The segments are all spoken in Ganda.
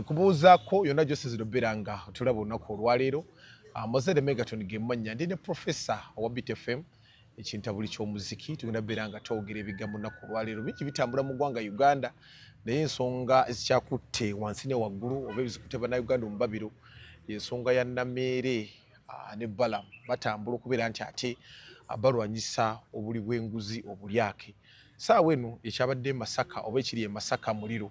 Nkubuuzaako yonna gy'osinzira obeera nga otulaba olunaku olwaleero. Ah, Mozere Megaton ge mannya ndi ne Profesa owa Beat FM ekintabuli ky'omuziki tugenda beera nga twogera ebigambo nnaku olwaleero bingi bitambula mu ggwanga Uganda naye ensonga ezikyakutte wansi ne waggulu oba ebizikutte bannayuganda omubabiro ensonga ya nameere ah, ne balam batambula okubeera nti ate ah, balwanyisa obuli bw'enguzi obulyake saawa eno ekyabadde e masaka oba ekiri e masaka muliro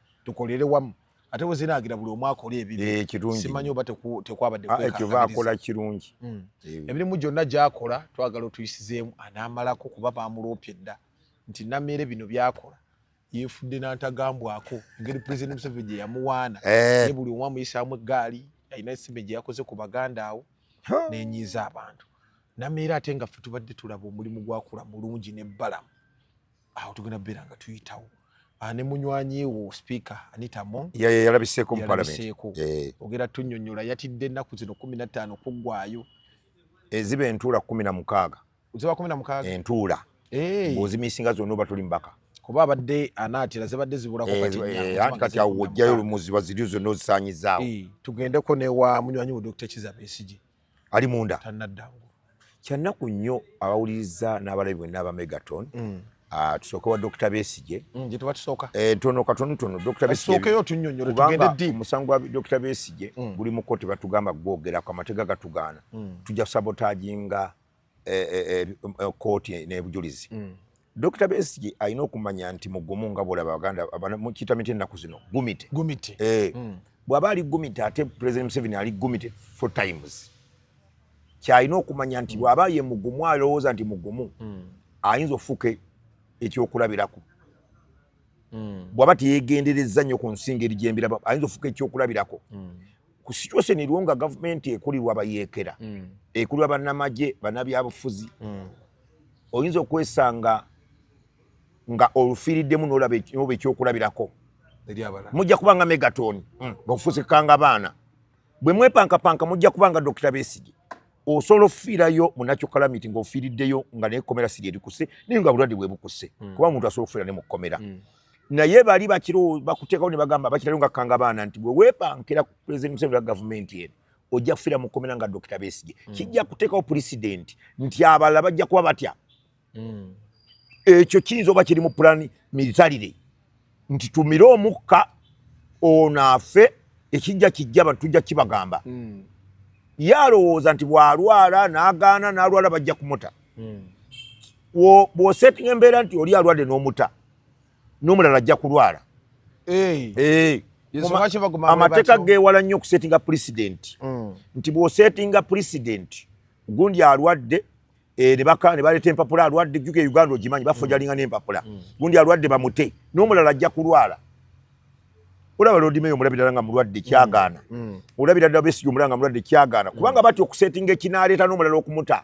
tukolere wamu ate weziragira buli omu akole ebibisimanyi eh, oba tekwabaddeekyo ah, bakola kirungi hmm. eh. emirimu gyonna gyakola twagala otuyisizeemu anaamalako kuba bamuloopye dda nti nameere bino byakola yefudde nantagambwako engeri president museveni gye yamuwaana eh. ne buli omu amuyisaamu eggaali alina esime gye yakoze ku baganda awo nenyiiza abantu nameere ate nga fe tubadde tulaba omulimu gwakula mulungi nebbalamu awo tugenda beera nga tuyitawo ah, ne munywanyi wo speaker Anita Among yalabiseeko mu parliament eh. ogera tunyonyola yatidde ennaku zino kumi na ttaano kuggwayo eziba entuula kumi na mukaaga ziba kumi na mukaaga entuula eh. ng'ozimisinga zonna oba tuli mbaka kuba abadde anaatira zibadde zibulako eh, anti kati awo wojjayo olumuziba ziri zonna ozisanyizaawo tugendeko newa munywanyi wo Dr. Kiza Besigye ali munda tanadda ngulu kyannaku nnyo abawuliriza n'abalabi bwenna aba megaton mm. ah, tusooke wa dokita besigye mm, eh, tono katonotono kubanga omusango gwa dokita besigye mm. guli mu kkooti batugamba gwogerako amatega gatugaana tujja sabotaginga kooti e, e, e, n'ebujulizi mm. Dr. Besigye alina okumanya nti mugumu nga bwolaba Baganda mukiyita miti ennaku zino gumite gumite eh. mm. bw'aba ali gumite ate President Museveni ali gumite four times kyalina okumanya nti bw'aba ye mugumu alowooza nti mugumu mm. ayinza okufuuka ekyokulabirako mm. bw'aba teyegenderezza nnyo ku nsinga eri gyembiraba ayinza okufuuka ekyokulabirako mm. ku situation eriwo nga gavumenti ekulirwa bayeekera mm. ekulirwa bannamagye bannabyabufuzi mm. oyinza okwesanga nga olufiiriddemu nolaba oba ekyokulabirako mujja kuba nga megaton mm. bakufusikanga abaana bwe mwepankapanka mujja kuba nga dokita besigi osobola ofiirayo munakyukalamiti ngaofiiriddeyo nga nekomera siri erikuse naye nga bulwadde bwebukuse mm. kuba omuntu asobola okufiira ne mu kkomera mm. naye bali bakiro bakuteekawo ne bagamba bakirayo nga kanga baana nti bwe weepankira ku pulezidenti museveni wa gavumenti eno ojja kufira mu kkomera nga dokita besigye mm. kijja kuteekawo pulezidenti nti abalala bajja kuba batya mm. ekyo kiyinza oba kiri mu pulani militarire nti tumire omukka ono afe ekijja kijja abantu tujja kibagamba mm. ye alowooza nti bw'alwala n'agaana n'alwala bajja kumuta bw'osetinga embeera nti oli alwadde n'omuta n'omulala ajja kulwala amateeka geewala nnyo okusetinga pulezidenti mm. nti bw'osetinga pulezidenti gundi alwadde eh, ne baleeta empapula alwadde juka e uganda ogimanyi bafojalinga mm. n'empapula mm. gundi alwadde bamute n'omulala ajja kulwala olaba lodimeyo omulabirala nga mulwadde kyagaana olabira ddala besiga omulala nga mulwadde kyagaana kubanga batya okusetinga ekinaaleeta n'omulala okumuta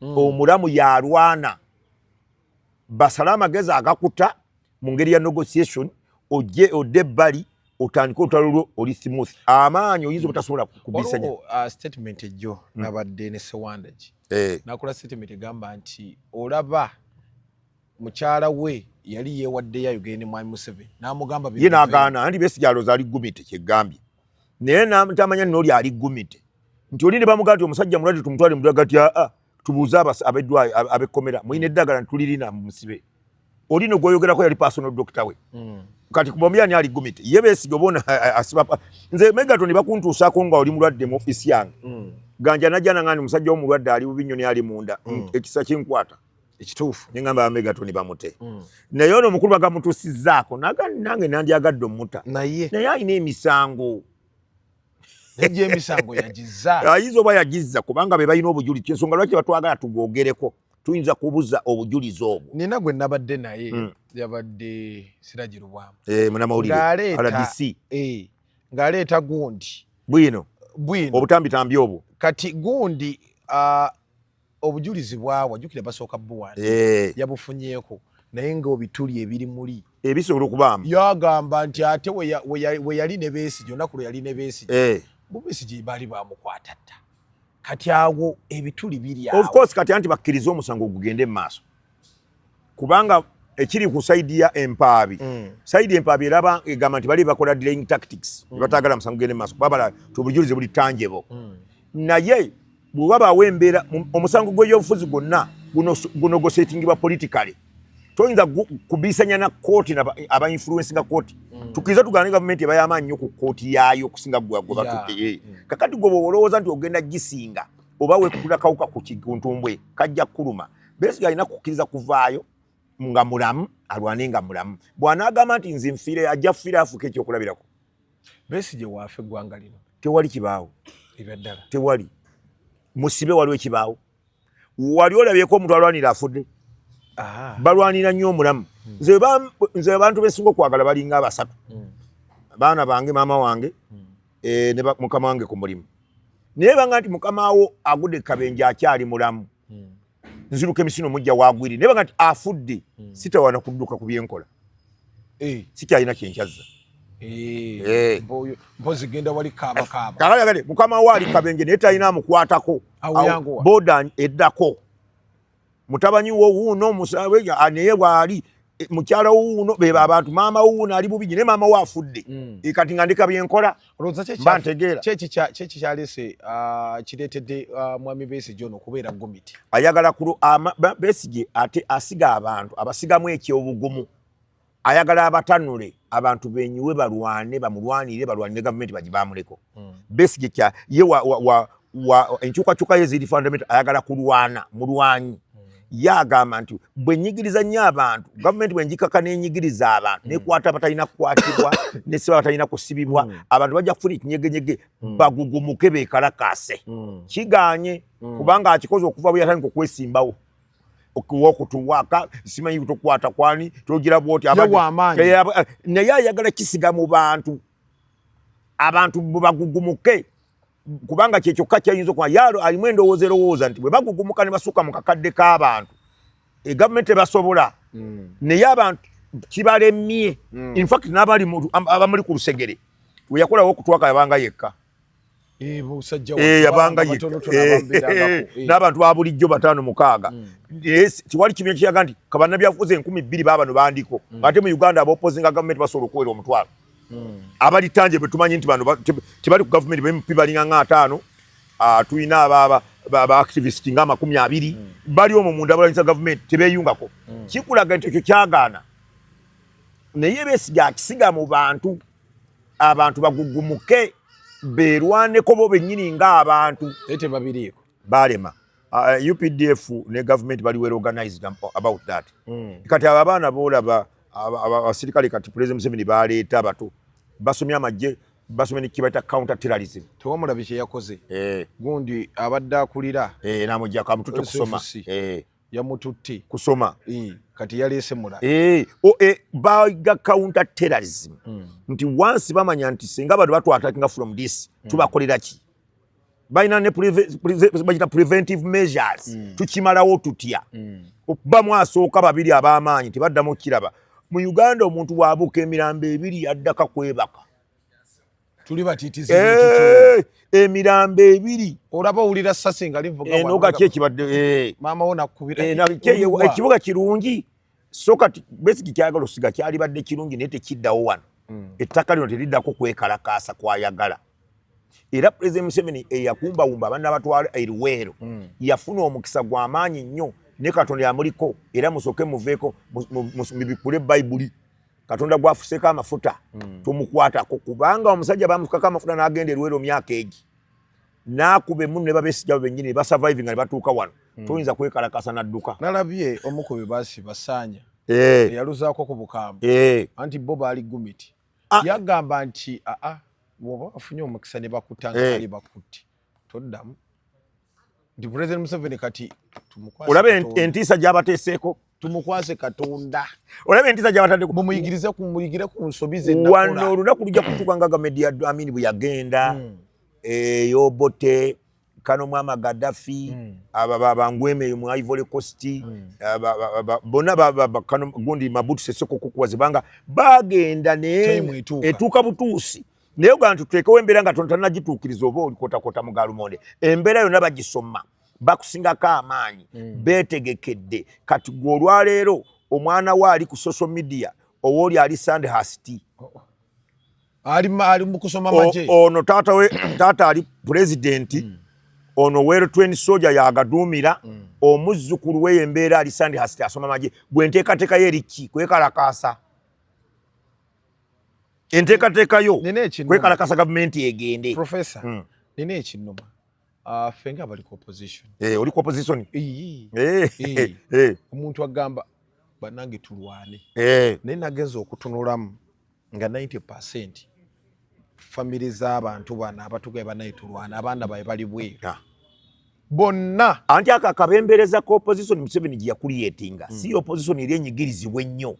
mm. omulamu yalwana basale amagezi agakuta mu ngeri ya negotiation ojje odde ebbali otandike olutalo lwo oli smooth amaanyi oyinza obutasobola kubisanya uh, statement ejjo mm. nabadde ne sewandagi eh. nakola statement egamba nti olaba mukyala we yali yewaddeyo ayogere ne mwami museveni namugamba ye nagaana anti besi gyaloza ali gumite kyegambye naye namutamanya noli ali gumite nti oli ne bamugaa nti omusajja mulwadde tumutwale mudwaga ti aa ah, ah, tubuuze abeddwayo abekkomera mulina eddagala nti tulirina musibe oli no gwoyogerako yali personal doctor we mm. kati kubombi ani ali gumite ye besiga obona asiba nze megaton bakuntuusako nga oli mulwadde mu ofisi yange mm. ganja najja nangani musajja womulwadde ali bubinyo ne ali munda mm. ekisa kinkwata ekituufu nengamba amegatoni bamute mm. naye ono omukulu bagamutusizaako nange nandyagadde omuta naye naye alina emisango Ejje emisango yagiza. Ayizo ba yagiza kubanga be bayina obujuli kyesonga lwaki batwagala tugogereko. Tuinza kubuza obujuli zobu. Nina gwe nabadde naye mm. yabadde sirajiru bwamu. Eh muna maulidi. Ngale ta. RDC. Eh. Ngale ta gundi. Bwino. Bwino. Obutambi tambi obu. Kati gundi uh, obujulizi bwawa jukira basooka buwa eh. yabufunyeeko naye nga obituli ebiri muli ebisobola okubaamu yagamba nti ate we yali ne besigye olunaku lwe yali ne besigye eh. bu besigye baali bamukwata dda kati awo ebituli biri awo of course kati anti bakkiriza omusango ogugende mu maaso kubanga ekiri ku saidi ya empaabi mm. saidi empaabi eraba egamba nti bali bakola delaying tactics mm. batagala musango gende maaso kuba bala tubujulize buli tanjebo mm. naye bwe wabaawo embeera omusango gw'ebyobufuzi gwonna guno gusetingibwa politikale toyinza kubiisanya na kooti aba influensinga kooti mm. tukiriza tugana ne gavumenti eba yamaanyi nyo ku kooti yaayo okusinga gwegwebatutte eh. mm. kakati gwe bwe olowooza nti ogenda gisinga oba wekula kawuka ku kiguntubwe kajja kukuluma Besigye alina kukkiriza kuvaayo nga mulamu alwane nga mulamu bwanaagamba nti nze nfiire ajja kufiira afuuka ekyokulabirako besigye waafa eggwanga lino tewali kibaawo ebyaddala tewali musibe waliwo ekibaawo wali olabyeko omuntu alwanira afudde balwanira nnyo omulamu hmm. nze abantu besinga okwagala balinga abasatu hmm. baana bange maama wange hmm. eh, ne mukama wange ku mulimu naye banga nti mukama wo agude kabenje akyali mulamu hmm. nziruka emisino mujja wagwiri naye bagati afudde hmm. sitawana kudduka ku byenkola eh. sikyalina kyenkyazza eh. eh. mpozi genda wali kaabakaaba kagale mukama waali kabenje naye talina amukwatako boda eddako mutabanyi wo wuuno musawe naye waali Eh, mukyala wuuno bebo abantu maama wuuno ali bubinyi naye maama we afudde mm. eh, kati nga ndika byenkola mba ntegeera kyeki kyalese ah, kireetedde ah, mwami besigye ono okubeera gomiti ayagala besigye ate asiga abantu abasigamu ekyobugumu ayagala abatanule abantu benyiwe balwane bamulwanire balwanire gavumenti bagibamuleko mm. Besigye kya ye wa, wa, wa, wa enkyukakyuka ye ziri fundamental ayagala kulwana mulwanyi mm. ye agamba nti bwe nyigiriza nnyo abantu gavumenti bwe njikaka nenyigiriza abantu mm. nekwata abatalina kukwatibwa nesiba abatalina kusibibwa mm. abantu bajja kufuna ekinyegenyege mm. bagugumuke bekalakaase mm. kiganye mm. kubanga akikoze okuva bwe yatandika okwesimbawo okutuwaka simanyi kutukwata kwani togira bwoti naye ayagala kisiga mu bantu abantu bwebagugumuke kubanga kyekyokka kyayinza okuba yaalo alimu endowooza erowooza nti bwebagugumuka ne basuka mu kakadde k'abantu egavumenti ebasobola hmm. naye abantu kibalemye hmm. infact n'abamuli ku lusegere weyakolawo okutwaka yabanga yekka Eh, eh, yabanga eh, n'abantu ba bulijjo bataano mukaaga mm. tewali kibiina kiraga nti kabanabyafuzi enkumi bbiri baabano bandiko mm. ngate mu uganda abaopozinga gavumenti basobola okuwera omutwalo mm. abalitanje betumanyi nti bano tebali ku gavumenti bempi balinga nga ataano ah, tulina abaaba baactivist nga amakumi abiri bali omwo munda balanyisa gavumenti tebeyungako kikulaga nti ekyo kyagaana naye besiga akisiga mu bantu abantu bagugumuke beerwaneko bo bennyini ng'abantu naye tebabiriiko baalema uh, uh updf ne gavumenti bali well organized about that mm. kati abo abaana boolaba abasirikale kati president museveni baleeta abato basomye amagye basomye nekibaita counter terrorism tewamulabi kyeyakoze eh. gundi abadde akulira eh, namujako amutute kusoma eh. yamututte kusoma e, kati yaleese mula e, o, e, baga counter terrorism mm. nti wansi bamanya nti singa abantu batwatakinga from this mm. tubakolera ki balina ne bagita preventive measures mm. tukimalawo tutya mm. okuba mwasooka babiri ab'amaanyi tebaddamu okukiraba mu uganda omuntu wabuuka emirambo ebiri yaddaka kwebaka tuli batitizi eh, emirambo ebiri olaba owulira sasi nga livugaenogaki eh, ekibadde eh. maama wo nakubira ekibuga kirungi so kati besiki kyagala osiga kyalibadde kirungi naye tekiddawo wano hmm. ettaka lino teriddako kwekalakaasa kwayagala era pulezidenti museveni eyakumbawumba abaana batwala eriweero hmm. yafuna omukisa gwamaanyi nnyo ne katonda yamuliko era musooke muveeko mubikule bayibuli katonda gwafuseko amafuta mm. tomukwatako kubanga omusajja bamufukako amafuta nagenda erwero myaka egi nakuba emunu nebabesijawe benyini basurviving nga nebatuuka wano mm. toyinza kwekalakasa nadduka nalabye omukubi basi basanya hey. Eh. eyaluzako ku bukambwe hey. Eh. anti bo baali gumiti ah. yagamba nti aa ah, ah, woba afunye omukisa nebakutanga hey. Eh. bakutti toddamu nti president museveni kati olaba entiisa gyabateeseeko tumukwase katonda olaba entiisa gyabatadeko mumuyigirize kumuyigire ku nsobi zewano olunaku lujja kutuka nga gamedi ya amini bwe yagenda hmm. eyobote kano mwama gadafi hmm. aba babangweme eyo mu ivory coast hmm. bona gundi mabutu seseko kukuwa zibanga bagenda naye etuuka butuusi naye ogamba nti tuteekewo embeera nga tontanagituukiriza oba olikotakota mu galumonde embeera yonna bagisoma bakusingako amaanyi mm. beetegekedde kati gwe olwaleero omwana we ali ku social media owooli ali sande hasti oh, oh. ali mukusoma maje ono taata we taata ali pulezidenti mm. ono wero twen soja yagaduumira mm. omuzzukulu weyo embeera ali sande hasti asoma maje gwe nteekateekayo eriki kwekalakaasa enteekateeka yo kwekalakasa gavumenti egende profesa hmm. nina ekinuma ah, ffe nga abali ku opposition eh, oli ku opposition eh, eh. omuntu agamba banange tulwane naye nagenza okutunulamu nga 90 percent famire z'abantu bano abatugaye banaye tulwana abaana baye bali bweru ah. bonna anti ako akabembereza ka opposition museveni gyeyakuliyetinga hmm. si opposition eri enyigirizibwa ennyo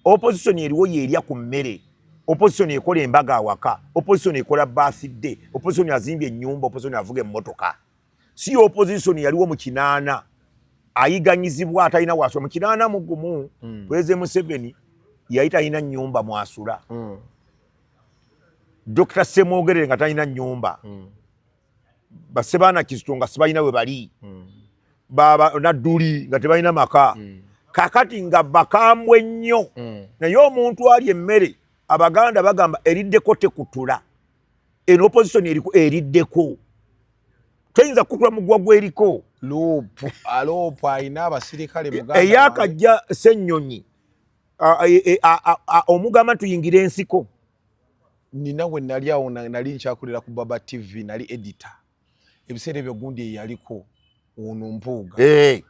opposition eriwo yerya ku mmere opposition ekola embaga awaka opposition ekola birthday opposition azimbye ennyumba opposition avuga emmotoka si opposition yaliwo mu kinaana ayiganyizibwa atalina wasula mu kinaana mu gumu mm. president museveni yali talina nnyumba mwasula mm. dr semwogerere nga talina nnyumba mm. basebaana kizito nga sibalina we bali hmm. nadduli nga tebalina maka hmm. kakati nga bakambwe nnyo hmm. naye omuntu ali emmere abaganda bagamba eriddeko tekutula eno opposition eriku eriddeko toyinza kukula mugwa gweriko eyakajja sennyonyi omugamba tuyingire ensiko nina we nali awo nali nkyakulira ku baba tv nali edita ebiseera ebyo gundi eyaliko ono mpuuga hey.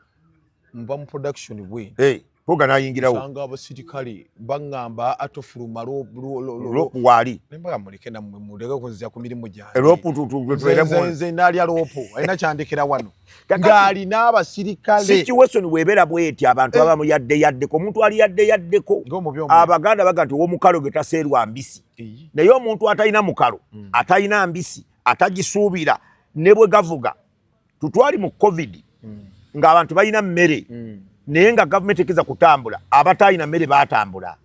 nva mu production bwe hey. mpuuga nayingirawo sanga abasirikale baŋŋamba atofuluma lopu waali nembaga muleke namwe muleke kunzija ku mirimu gyange lopu tutututueremu nze nalya lopu alina kyandikira wano ng'alina abasirikale situation bwebera bweti abantu eh. abamu yadde yaddeko omuntu ali yadde yaddeko abaganda baga nti owomukalo ge taseerwa mbisi naye omuntu atalina mukalo hmm. atalina mbisi atagisuubira ne bwe gavuga tutwali mu covid hmm. ng'abantu balina mmere hmm. naye nga gavumenti ekeza kutambula abataalina mmere baatambula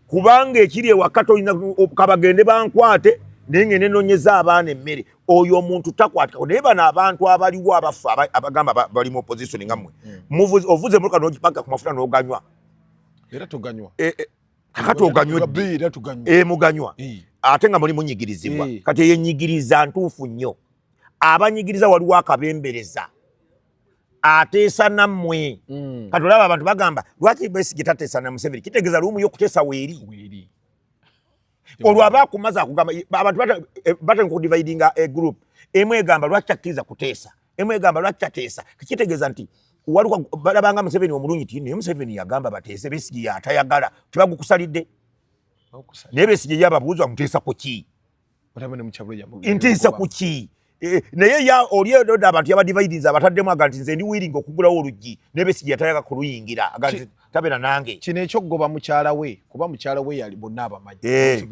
kubanga ekiri ewaka tolina kabagende bankwate naye ngende nonyeza abaana emmere oyo omuntu takwatikako naye bano abantu abaliwo abafu abagamba bali mu opposition nga mwe hmm. ovuze muka nogipaka ku mafuta noganywa era tuganywa e, e, kakati oganywa e, muganywa ate nga muli munyigirizibwa kati eyenyigiriza ntuufu nnyo abanyigiriza waliwo akabembereza ateesa nammwe mm. kati olaba abantu bagamba lwaki besige tateesa na museveni kitegeeza lumu yo okuteesa weeri olwo aba akumaze akugamba abantu eh, batandika okudividinga egroup eh, emu egamba lwaki takkiriza kuteesa emu egamba lwaki tateesa kitegeeza nti waliwo balabanga museveni omulungi ti naye museveni yagamba bateese besige yatayagala tebagukusalidde naye besige yababuuza muteesa ku ki ntiisa ku ki e, naye ya oli oda abantu yabadividinze abataddemu aga nti nze ndi wiringa okugulawo oluggi nebesigi yatayaka kuluyingira tabera nange kino ekyokugoba mukyala we kuba mukyala we yali bonna abamanyi eh,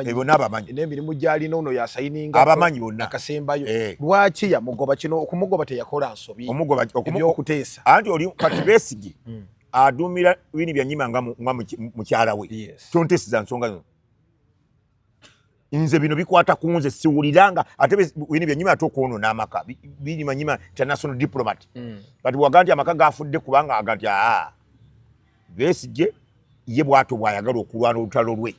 eh, bonna abamanyi n'emirimu gyalina ono yasayininga abamanyi bonna akasembayo eh. lwaki yamugoba kino okumugoba teyakola nsobi omugoba okuteesa anti oli kati besigi hmm. adumira bini byanyima nga mukyala we tontesiza nsonga zino nze bino bikwata ku nze siwuliranga ate bino byenyuma ate okwonona amaka birimanyima international diplomat mm. but waga nti amaka gafudde kubanga aga nti aa besigye ye bwato bwayagala okulwana olutalo lwe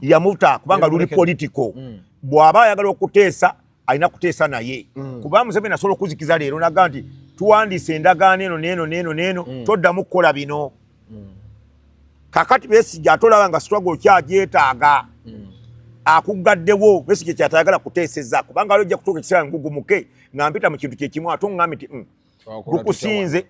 yamutta kubanga luli politico mm. bwaba ayagala okuteesa alina kuteesa naye mm. kuba museveni asobola okuzikiza leero naga nti tuwandiisa endagaano eno neeno neeno neeno mm. toddamu kukola bino mm. kakati besija atolaba nga struggle okyagyetaaga mm. akuggaddewo besije kyatayagala kuteeseza kubanga ali ojja kutuuka ekiseera ngugumuke nga mpita mu kintu kyekimu ate oŋŋambi nti mm, lukusinze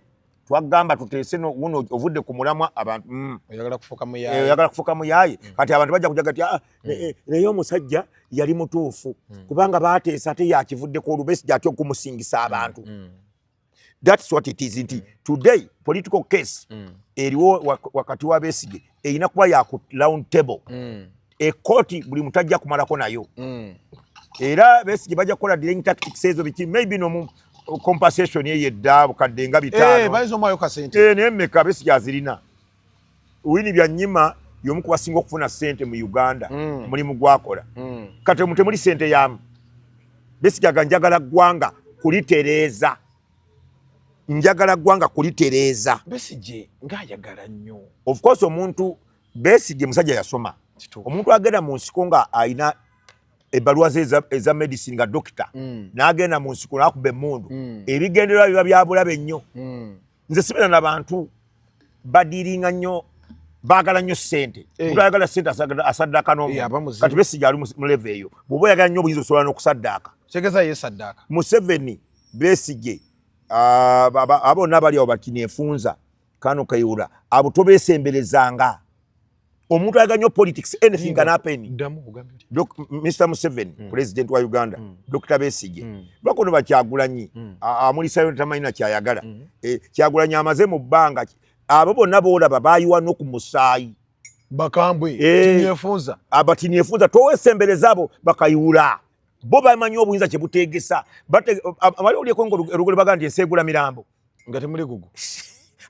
twagamba tuteese wuno ovudde ku mulamwa abantu mm. oyagala kufuka muyaye oyagala kufuka muyaye mm. kati abantu bajja kujaga ti ah, mm. eh, eh, naye omusajja yali mutuufu kubanga bateesa ate yakivudde ku olubesi gyatya okumusingisa abantu thats what it is nti today political case eriwo wakati wa besige erina kuba yaku round table ekkooti buli muntu ajja kumalako nayo mm. era besigye bajja kukola dealing tactics ezo biki maybe nomu compensation eyo edda bukadde nga bitaanonayemmeka eh, eh, besigye azirina wini byanyima yomu kubasinga okufuna sente mu uganda mm. mulimu gwakola mm. kati omu temuli sente yamu besigye aga njagala ggwanga kulitereeza njagala ggwanga kulitereeza besigye ngaayagala nnyo ofcourse omuntu Besigye musajja yasoma. Omuntu agenda mu nsiko nga alina ebbaluwa ze eza medicine nga dokita mm. n'agenda mu nsiko n'akuba emmundu mm. ebigendererwa biba byabulabe nnyo mm. nze sibeera na bantu badiiringa nnyo baagala nnyo ssente eh. omuntu ayagala ssente asaddaaka n'omukati eh, besigi ali mu leve eyo bw'oba oyagala nnyo obuyinza osobola n'okusaddaaka tegeza ye saddaaka museveni besigye ah, abonna bali awo bati nefunza kano kayula abo tobesemberezanga omuntu ayaga nyo politics anything can happen mr museven mm. president wa uganda mm. dr besige mm. bakono bakyagulanyi mm. amulisayo tamanyina kyayagala mm. e, kyagulanyi amaze mu bbanga abo bonna boolaba bayiwa noku musaayi bakambwe e, eh. tinyefunza abatinyefunza towesembereza abo bakayiwula bo bamanyi obuyinza kyebutegesa bali olyekonga olugole baga nti enseegula mirambo nga temuli gugu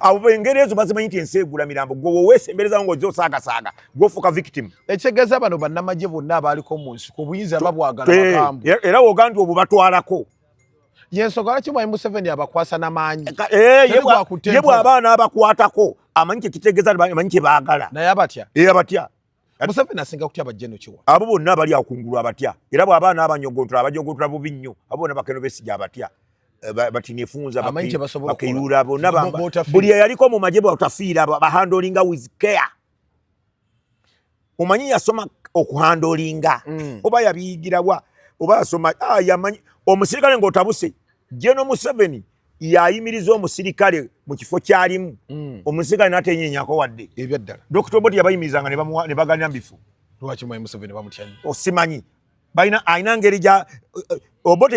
abo engeri ezo bazimanyi nti ensi egula mirambo gwe wowesemberezawo ngaoze osaagasaga gwofuuka victim ekitegeeza bano bannamagye bonna abaaliko mu nsi ku buyinza babwagala eh, bagambu era wogandi obwo batwalako yensonga lwaki mwami museveni abakwasa namaanyi eh, ye bw'abaana abakwatako amanyi kyekitegeeza amanyi kye baagala naye abatya e abatya Museveni asinga kutya bajjeno kiwa. Abo bonna abali akungulu abatya. Era bwaba n'abanyogontula abajogontula bubi nnyo. Abo bonna bakeno besija abatya. Eh, bati nefunza bakeyura bonna bamba. Buli eyaliko mu magye bwatafiira bahandolinga with care. Omanyi yasoma okuhandolinga. Mm. Oba yabiyigira wa. Oba yasoma ah, yamanyi omusirikale ng'otabuse. Jeno Museveni. yayimiriza omusirikale mu kifo kyalimu mm. omusirikale natenyenyako wadde ebyaddala dokita oboti yabayimirizanga ne baganira mu bifo lwaki mwayi museveni bamutyanyi osimanyi oh, balina alina ngeri gya eh, eh, oboti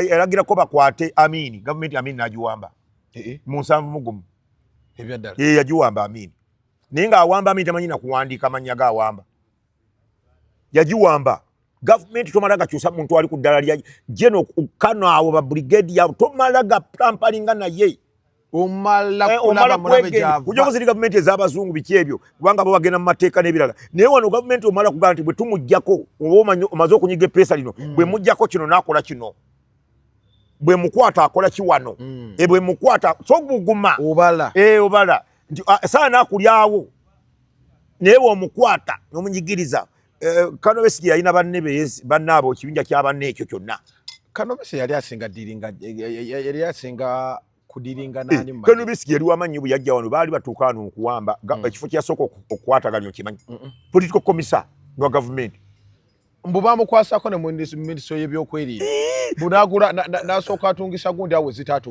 yalagirako bakwate amiini gavumenti amiini nagiwamba eh, eh. mu nsanvu mugumu ebyaddala ye yagiwamba amiini naye nga awamba amiini tamanyi nakuwandiika amannya ga awamba yagiwamba gavumenti tomala gakyusa muntu ali ku ddala lya jeno kano awo ba brigade yabo tomala gatampalinga naye omalakujagoziri eh, gavumenti ez'abazungu biki ebyo kubanga bo bagenda mu mateeka n'ebirala naye wano gavumenti omala kugamba nti bwe tumugjako oba omaze okunyiga epeesa lino mm. bwe mugjako kino n'akola kino bwe mukwata akola kiwano mm. e bwe mukwata soguguma obala eh, nti ah, saana akulyawo naye bwe omukwata n'omunyigiriza Eh, kano besigi yalina banne banne abo kibinja kya banne ekyo kyonna kano besi yali asinga diringa yali asinga kudiringa eh, nani mu kano besi yali wamanyi bu yajja wano bali batuka wano okuwamba mm. ekifo kya soko okwata ganyo kimanyi political commissar no government mbu bamukwasako ne ministry y'ebyokwerinda eh! bunagula nasooka atungisa gundi awo zitatu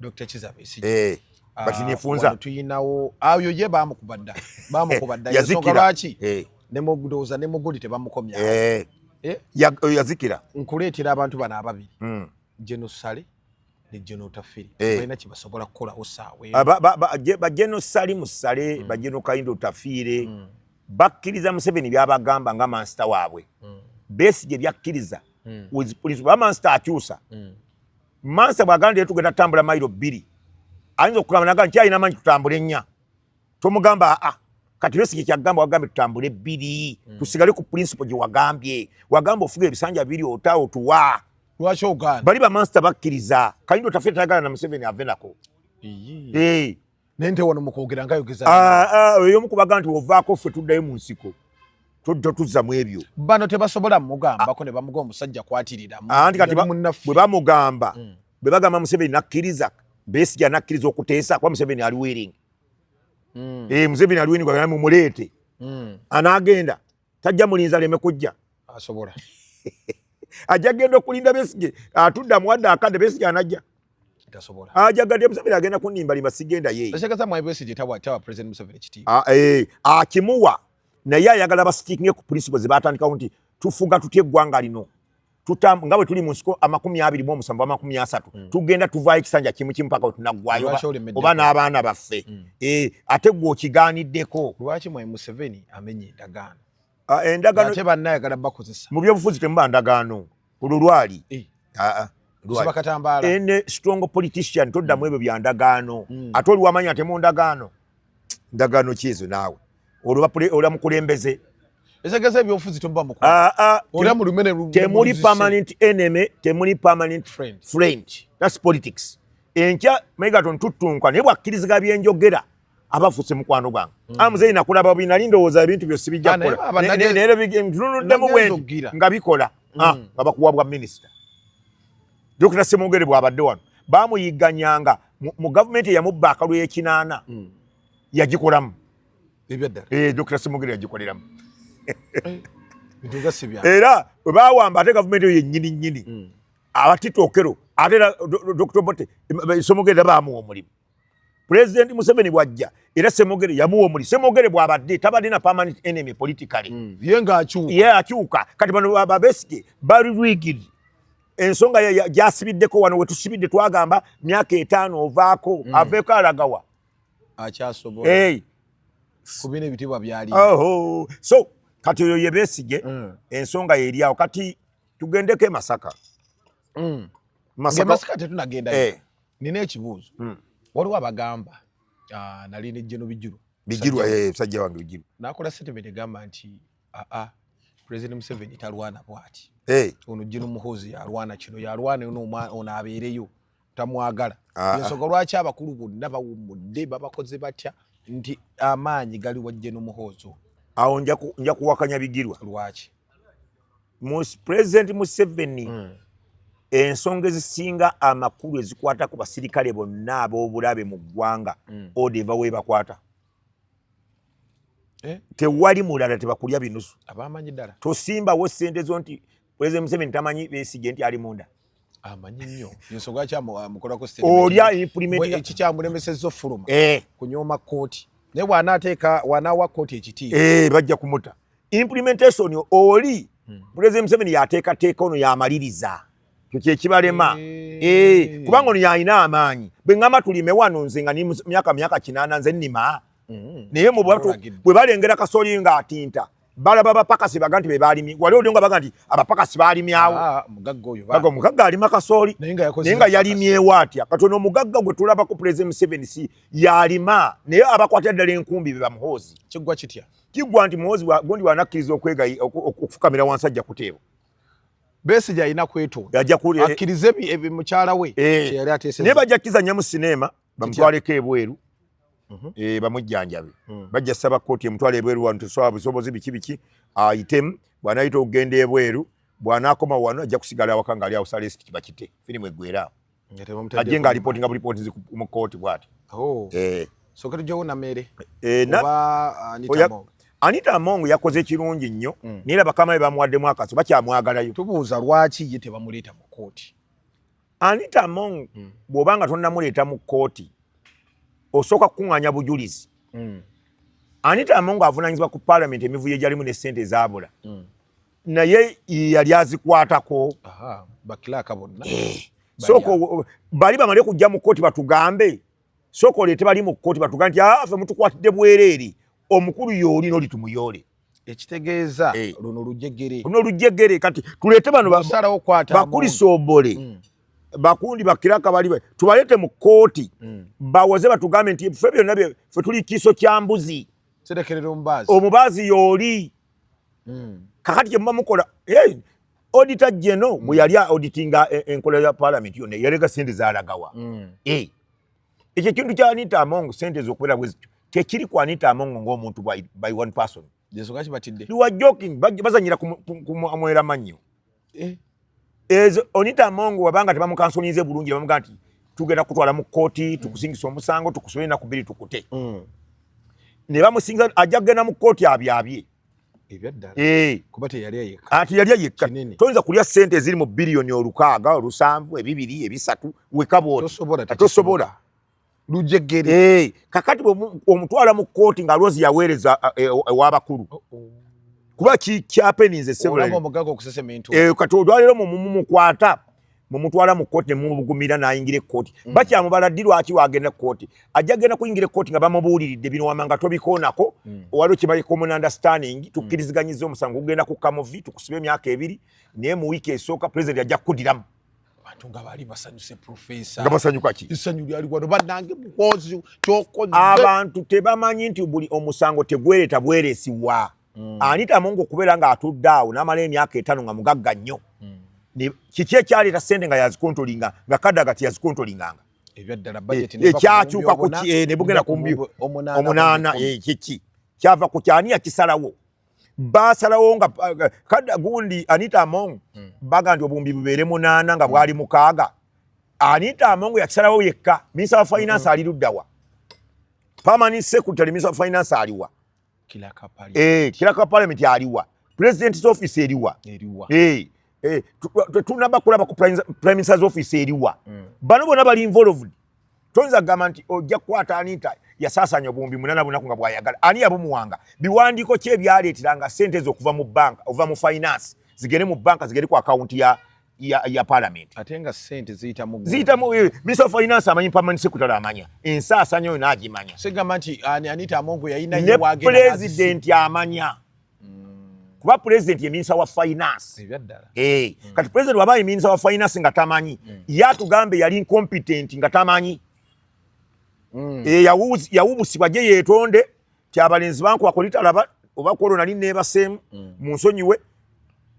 Dr. Kiza Besigye. Eh. Ah, But nefunza. Tuyinawo ayo ye bamukuba dda. Bamukuba dda. Yazikira. Lwaki? Eh. Ne mugudoza ne muguli tebamukomya. Eh. Eh? Ya, eh, yazikira. Nkuleetera abantu bana ababiri. Mm. Genocide ne Geno Tafiri. Eh. Baina kibasobola kukola osawe. Ah, ba ba ba, ba Geno Sali musale, mm. ba Geno Kaindo Tafire. Mm. Bakiriza Museveni byabagamba nga master wabwe. Mm. Besi je byakiriza. Mm. With police ba master akyusa. Mm. Mansa bw'agamba nti tugenda tutambula mayiro bbiri ayinza okugamba naga nti alina amanyi tutambule ennya tomugamba aa ah, ah, kati Besigye kyagamba wagambye tutambule bbiri hmm. tusigale ku pulinsipo gye wagambye wagamba ofuga ebisanja biri ota otuwa lwaki ogaana bali bamansita bakkiriza kalindo tafe tayagala na museveni ave nako naye nte wano mukwogera nga yogeza ah, ah, oyo omu kubaga nti ovaako ffe tuddayo mu nsiko todda tuzza mu ebyo bano tebasobola mugambako ne bamuga omusajja kwatirira anti kati bwe bamugamba mm. bwe bagamba museveni nakkiriza besija nakkiriza okuteesa kuba museveni ali wering mm. eh, museveni ali wering mumuleete mm. anaagenda tajja mulinza leme kujja asobola ajja genda okulinda besige atudda muwadde akadde besige anajja ajagadde museveni agenda kunimba limba sigenda yeeakimuwa naye ayagala basitinge ku principle zebatandikawo nti tufuga tutya eggwanga lino tutam nga bwe tuli mu nsiko amakumi abiri mu omusanvu amakumi asatu mm. tugenda tuvaayo ekisanja kimu kimu paka wetunaggwayo oba n'abaana baffe mm. e, ate gwe okigaaniddeko lwaki mwe museveni amenye endagaano ah, endagaano ate bannayagala bakozesa mu byobufuzi temuba ndagaano olwo lwali eh. ah, ah, ene strong politician toddamu mm. ebyo bya ndagaano mm. ate oliwamanyi ate mu ndagaano ndagaano kyezo naawe olwa mukulembeze etegeza ebyobufuzi toba muku ah, ah, olya mu lumene lu temuli permanent enemy temuli permanent friend friend that's politics enkya mega ton tutunka ne bwakiriziga byenjogera abafuse mukwano gwange mm. amuzeyi nakulaba bina lindo woza ebintu byo sibijja ah, kola ne ne bige mtununu demu wendi nga bikola mm. ah baba kuwa bwa minister dokita semugere bwa badde wano bamuyiganyanga mu government ya mubba akalu yekinana mm. yagikolamu ebyaddala eh Dr. Simugire yagikoleramu era bwe bawamba ate gavumenti eyo yennyini nnyini mm. abatitokero ate era Dr. Obote Semogere era baamuwa omulimu pulezidenti Museveni bw'ajja era Semogere yamuwa omulimu Semogere bw'abadde tabadde na permanent enemy politically mm. ye ng'akyuka ye akyuka kati bano Babesige bali rigid ensonga gyasibiddeko wano we tusibidde twagamba myaka etaano ovaako mm. aveeko alagawa akyasobola hey. kubina ebitibwa byali oh, so kati oyo yebesige mm. ensonga yeriawo kati tugendeko emasaka mm. masaka tetunagenda hey. Eh. nina ekibuuzo mm. waliwo abagamba uh, nali nejeno bijulu bijirwa eh, sajja wange bijirwa nakola statement egamba nti aa ah, ah, president museveni talwana bwati hey. Eh. ono jino muhozi yalwana kino yalwana ono abeereyo tamwagala ah, ah. ensonga lwaki abakulu bonna bawummudde babakoze batya nti amaanyi gali wajje n'omuhoozo awo nja kuwakanya bigirwa lwaki president museveni hmm. ensonga ezisinga amakulu ezikwata ku basirikale bonna ab'obulabe mu ggwanga hmm. oda eva webakwata eh? tewali mulala tebakulya binusu tosimbawo sente zo nti President Museveni tamanyi besige nti ali munda. Amanyi nnyo. Yensonga kya mukola ko state. Olya implement ya kikya mulemese zo fuluma. Eh. Kunyoma koti. Ne wana ateka wana wa koti ekiti. Eh bajja kumuta. Implementation oli hmm. President Museveni yateka teka ono ya maliriza. Kye kibalema. Eh. eh kubanga ono yalina amaanyi. Bengama tulime wano nze nga ni myaka myaka kinana nze nima. Mm. Naye mu bwatu bwe balengera kasoli nga atinta. balaba abapakasi baga nti bebalimi wali olio nga baga nti abapakasi balimyawo ah, baga omugagga alima kasooli naye nga yalimyewo atya kati ono omugagga gwe tulaba ku pulezidenti museveni si yalima naye abakwatira ddala enkumbi be bamuhoozi kiggwa kitya kiggwa nti muhoozi gundi wanakkiriza okwegayi okufukamira wansi ajja kuteebwa besi gyalina kwetonda akkirize mukyala we eh. naye bajja kukizanya mu sineema bamutwaleko ebweru mhm. eh, bamujjanjabe hmm. bajja saba kkooti emutwala ebweru wano tesobola busobozi biki biki ayitemu bw'anayita okugenda ebweru bw'anaakoma wano ajja kusigala awaka ng'ali awo salesi kibakite firimu eggwera ajje ng'alipooti nga bulipooti zi mu kkooti bw'ati oh. eh. soke tujjawo nameere eh, anita among yakoze ekirungi nnyo hmm. naye era bakama be bamuwaddemu akaso bakyamwagalayo tubuuza lwaki ye tebamuleeta mu kkooti Anita Among mm. bw'oba nga tonnamuleeta mu kkooti osooka kukuŋŋaanya bujulizi mm. Anita Among avunaanyizibwa ku paalamenti emivuyo egyalimu ne ssente zaabula mm. naye yali azikwatako bakilaaka bonna eh. sooka bali bamale kujja mu kkooti batugambe sooka oleete bali mu kkooti batuga nti ah, fe mutukwatidde bwereere omukulu yooli noli tumuyoole ekitegeeza eh. luno lujegere luno lujegere kati tuleete bano bakulisombole mm. bakundi bakiraka bali tubaleete mu kkooti mm. bawoze batugambe nti fe byonna fe tuli kiiso kya mbuzi omubaazi yooli mm. kakati kyemuba mukola odita jeno mm. bweyali auditinga e, enkola ya parliament yona yalega sente zalagawa mm. eh. ekyo ekintu kya anita among sente zokubeera bwezityo tekiri ku anita among ngaomuntu by one person bazanyira kumwera manyo eh. ezo onita among wabanga tebamukansonize bulungi bamuga nti tugenda kutwala mu kooti tukusingisa omusango tukusubire naku biri tukute mm. nebamusinga ajja kugenda mu kooti abyabye Eh. ati yalya yekka toyinza kulya sente eziri mu biliyoni olukaaga olusanvu ebibiri ebisatu wekabwotosobola lujegere eh. kakati omutwala mu kooti nga lwozi yaweereza eh, ewabakulu oh, oh. kuba kikyapeninze kati olwalero mumukwata mumutwala mu kkooti nemumugumira nayingira ekkooti mm. bakyamubala ddi lwaki wagenda kkooti ajja genda kuyingira ekkooti nga bamubuuliridde bino wamanga tobikoonako mm. waliwo kyebaye common understanding mm. tukkiriziganyiza omusango ogugenda ku kamuvi tukusiba emyaka ebiri naye mu wiiki esooka pulezidenti ajja kukudiramu abantu nga baali basanyuse profesa nga basanyuka ki essanyu lyali wano banange mukozi kyokoze abantu tebamanyi nti buli omusango tegwereta bweresibwa mm. anita mungu okubeera nga atudde awo namala emyaka etano nga mugagga nnyo mm. kiki ekyaleeta sente nga yazikontolinga nga kadda gati yazikontolingaanga ekyakyuka eh, kuki eh, nebugenda kumbyo omunaana eh, kiki kyava ku kyani yakisalawo basalawo nga kadda gundi anita among mm. baga nti obumbi bubeere munaana nga bwali mukaaga anita amongo yakisalawo yekka minisa wa finance mm-hmm. ali luddawa permanent secretary minisa wa finance aliwa eh, kilaka parliament aliwa president's office eriwa eh, eh, tunaba kulaba ku prime minister's office eriwa mm. bano bona bali involved tonza gamba nti ojja kukwata anita yasasanya obuwumbi munana bunaku nga bwayagala ani yabumuwanga biwandiiko ki ebyaleeteranga sente ezo okuva mu banka ova mu finance zigende mu banka zigende ku akawunti ya ya, ya parliament ate nga sente ziyita mu ziyita mu eh, minister of finance amanyi permanent secretary amanya ensaasanyo yona agimanya sigamba nti ani anita amongo yayina ye wagenda ne president amanya kuba president ye minister wa finance ebyaddala eh mm. kati president waba ye minister wa finance nga tamanyi mm. yatugambe yali incompetent nga tamanyi mm. eh yawuzi yawubusibwa je yetonde kyabalenzi bankuba kulitalaba oba kwolwo nali neebaseemu mm. mu nsonyiwe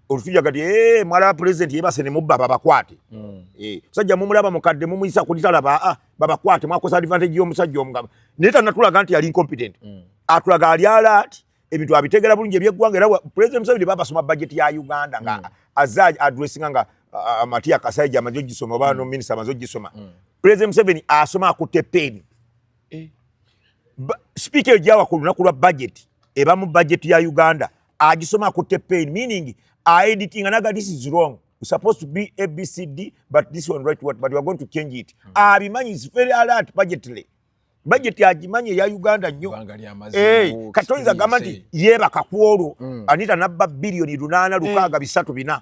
olutuja kati eh, mwalaba pulezidenti yebase ne mubba babakwate mm. eh, musajja mumulaba mukadde mumuyisa kulitalaba ah, babakwate mwakosa advantage y'omusajja omugaba naye tanatulaga nti yali incompetent mm. atulaga ali alaati ebintu abitegera bulungi ebyeggwanga era pulezidenti museveni babasoma bajeti ya uganda nga azza adressinga nga amatiya kasaija amaze ogisoma oba no minisita amaze ogisoma pulezidenti museveni asoma akutte peeni eh. sipiika eyo gyawa ku lunaku lwa bajeti eba mu bajeti ya uganda agisoma akutte pain meaning aeditinga naga this is wrong supposed to be abcd but this one right what but weare going to change it hmm. abimanyi is very alert budgetly bajeti agimanyi eya uganda nnyo eh, kati oyinza gamba nti yeebaka ku olwo hmm. anita nabba biliyoni lunaana lukaaga hmm. bisatu bina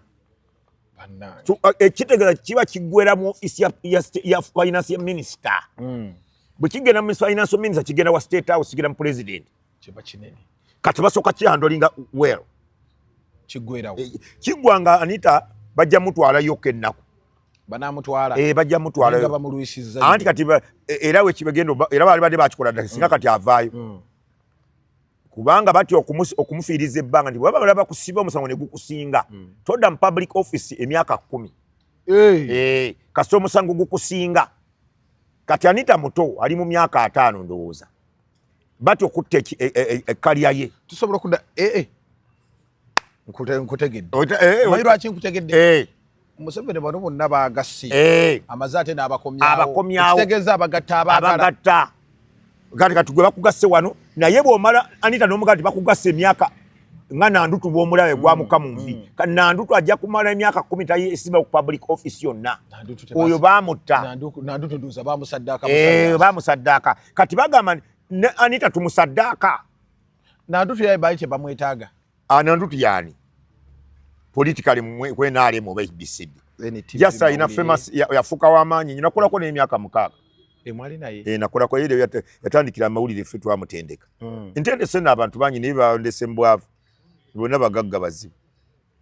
Uh, ekitegeeza kiba kiggwera mu ofiisi ya finance minisita hmm. bwe kigenda mu finance minisita kigenda wa state house kigenda mu pulezidenti kati basooka kihandolinga well eh, kiggwa nga anita bajja mutwalayoko ennaku banamutwala eh, bajja mutwalaanti kati eh, era wekibegenda era bali badde bakikola dda singa hmm. kati avaayo hmm. kubanga batya okumufiiriza ebbanga nti bwebaba balaba kusiba omusango ne gukusinga hmm. todda mu public office emyaka kumi eh, kasita omusango gukusinga kati anita muto ali mu myaka ataano ndowooza batya okutta ekkalya e, e, e, ye tusobola okuda eh, eh. nkutegedde eh, omanyi lwaki nkutegedde eh. museveni bano bonna bagasi eh. amaze ate n'abakomyawoabakomyawokitegeza abagatta abagatta gati kati gwe bakugasse wano naye bwomala anita nomugaa ti bakugasse emyaka nga nandutu bwomulabe mm, gwamuka mu nvi mm. kati nandutu ajja kumala emyaka kumi tayesimba ku public office yonna oyo bamutta bamusaddaaka kati bagamba ne anita tumusaddaaka Nantutu yaye bali tebamwetaaga. Ah, Nantutu yaani politically kwenaalemu oba HBCD just alina famous yafuuka w'amaanyi nyo nakolako n'emyaka mukaaga eh, nakolako era yatandikira amawulire ffe twamutendeka hmm. ntendese no abantu bangi naye bandese mu bwavu bonna bagagga bazibu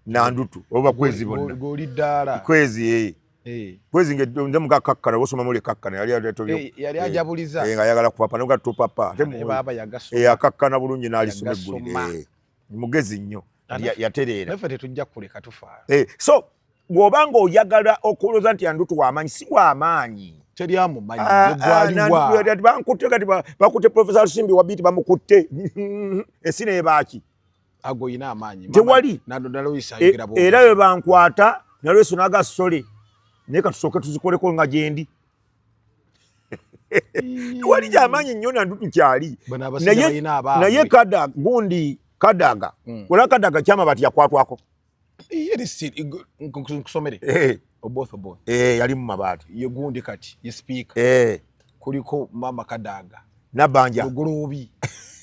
nandutu oba kwezi bonna goli dala kwezi eh eh kwezi nge nze muka kakkana osoma mule kakkana yali yali tobyo eh, yali eh. ajabuliza eh nga yagala kupapa noga to papa ate mu baba yagaso eh akakkana bulungi nali sume guli eh mugezi nnyo yaterera nafe tetujja kuleka tufa eh so bwobanga oyagala okuloza nti andutu wa manyi si wa manyi teri amu manyi ah, gwali ah, wa bankute kati bakute professor simbi wabiti bamukutte esine ebaki tewali e, era bwe bankwata nalweso naga sole naye katusooke tuzikoleko nga gyendi tewali gyamaanyi nnyo nandu tukyali naye kada gundi kadaga hmm. olaba kadaga kyamabati yakwatwako nkusomere eh. oboth oboth eh, yali mu mabaati ye gundi kati ye sipiika eh. kuliko mama kadaga nabanja lugulubi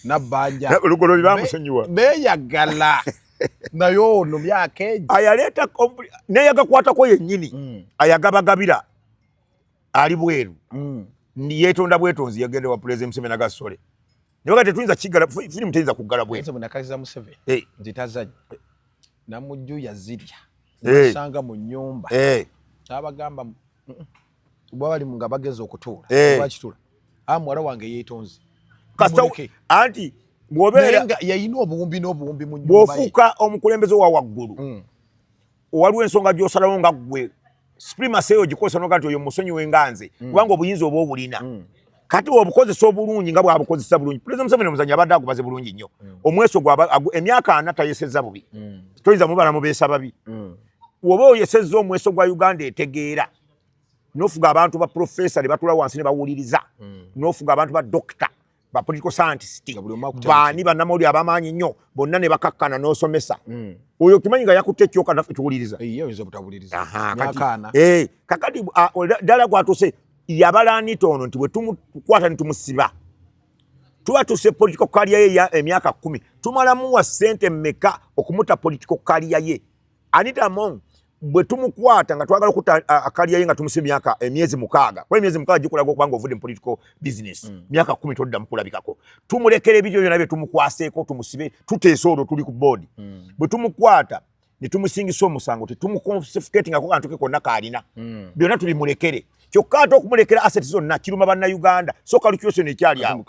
nabanja lugulubi bamusonyiwa beyagala naye ono myaka egi ayaleeta neyagakwatako yennyini mm. ayagabagabira ali bweru mm. yetonda bwetonzi yagenda wa pulezidenti museveni agasole Nyoka tetuyinza kigala firimu teyinza kuggala bwe. Nsebo nakaliza Museveni hey. Eh. nti tazannya hey. Eh. namujju yazirya hey. Eh. nasanga mu nnyumba hey. kyabagamba bwe bali nga bageza okutuula hey. bakitula a ah, muwala wange yeetonze kasita anti bwobeera yayina obuwumbi n'obuwumbi mu nnyumba bwofuuka omukulembeze wa waggulu mm. waliwo ensonga gyosalawo nga gwe supremacy eyo gikozesa noga nti oyo musonyiwe nga nze mm. kubanga obuyinza oba obulina mm. kati obukozesa obulungi nga bwabukozesa bulungi pulezida museveni omuzanyi abadde agubaze bulungi nnyo mm. omweso emyaka ana tayeseza bubi toyinza mubala mubeesa babi woba oyeseza omweso gwa uganda etegeera nofuga abantu ba profesa ne batula wansi ne bawuliriza nofuga abantu ba dokita ba political scientist baani bannamawulire abamaanyi ennyo bonna ne bakakkana n'osomesa hmm. oyo okimanyi nga yakutte ekyoka naffe tuwuliriza eh, kakati ddala gwatuse yabala anita ono nti bwetumukwata netumusiba tuba tuse political kaliya ye emyaka kumi tumalamuwa sente meka okumuta political kaliya ye Anita Among bwe tumukwata nga twagala okuta akalya ye nga tumuse myaka emyezi mukaaga kuba emyezi mukaaga gikulaga okuba nga ovudde mu political business mm. myaka kumi todda mukulabikako tumulekera ebiryo byona bye tumukwaseeko tumusibe tuteese olwo tuli ku boodi mm. bwe tumukwata ne tumusingisa omusango tetumukonfisifiketingako kantu ke konna kaalina mm. byonna tubimulekere kyokka ate okumulekera asset zonna kiruma bannauganda soka lukyoseno ekyali awo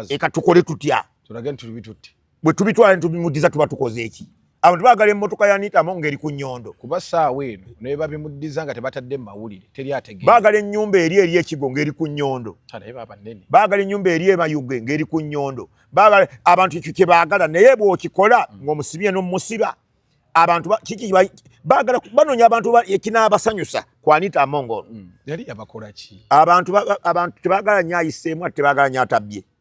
eka tukole tutya tulage nti tubi tutti bwe tubitwala netubimuddiza tuba tukoze eki abantu bagala emotoka ya Anita Among eri ku nyondo kuba saawa eno naye babimuddiza nga tebatadde mawulire teri ategeera bagala ennyumba eri eri ekigo ngeri ku nyondo bagala ennyumba eri emayuge ngeri ku nyondo bagala abantu ekyo kye baagala naye bw'okikola mm. ng'omusibye n'omusiba abantu kiki bagala banoonya abantu ekinaabasanyusa ku Anita Among mm. yali yabakola ki abantu abantu tebagala nyo ayiseemu ate tebagala nyo atabbye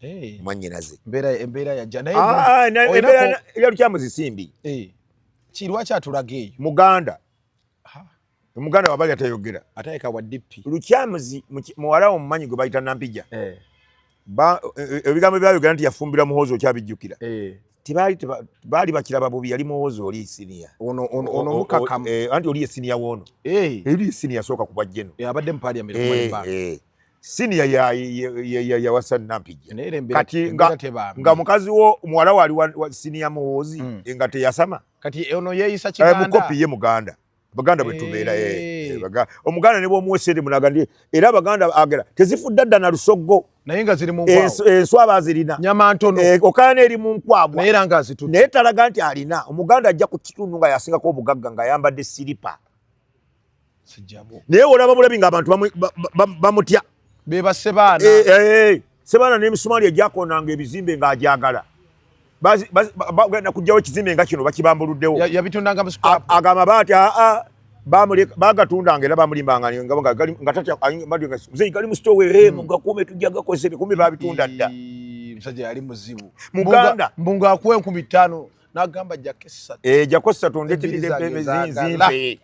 hey. mwanyinaze embeera yajja naye ah, embeera yalukyamu zisimbi hey. kirwaki atulaga eyo muganda omuganda wabali atayogera atayeka wa dp lukyamuzi muwala wo mumanyi gwe bayita nampija eh. eh, ebigambo byayogera nti yafumbira muhoozi okyabijjukira eh. baali bakiraba bubi yali muhoozi oli isinia anti oli esinia woono eri isinia sooka kubajjeno abadde mupaliament siniya ya ya ya ya wasa nampija kati nga, nga mukazi wo muwala wali wa, wa siniya muwozi mm. nga teyasama kati eh, ono yeyisa eh, kiganda eh, mukopi ye muganda baganda bwe tubeera hey. Eh, eh, baga, omuganda ne bwomuwesere munaga ndi era baganda agera tezifudda dda na lusoggo naye nga ziri muenswaba zirina nyama ntono eh, okayana eri mu nkwagwa naye era nga azitutte naye talaga nti alina omuganda ajja ku kitundu nga yasingako obugagga nga ayambadde siripa naye olaba bulabi nga abantu bamutya bebase baana eh, eh, eh. sebaana n'emisumaali egyakonanga ebizimbe ng'agyagala bagenda kujjawo ekizimbe nga kino bakibambuluddewo aga amabaati aa bagatundanga era bamulimbanga gali mu sitowe hmm. mugakuume tujja gakozesa ebikumi babitunda dda musajja yali muzibu muganda mbunga akuwa enkumi ttaano n'agamba jako essatu jako essatu ndeteredde emezinzimbe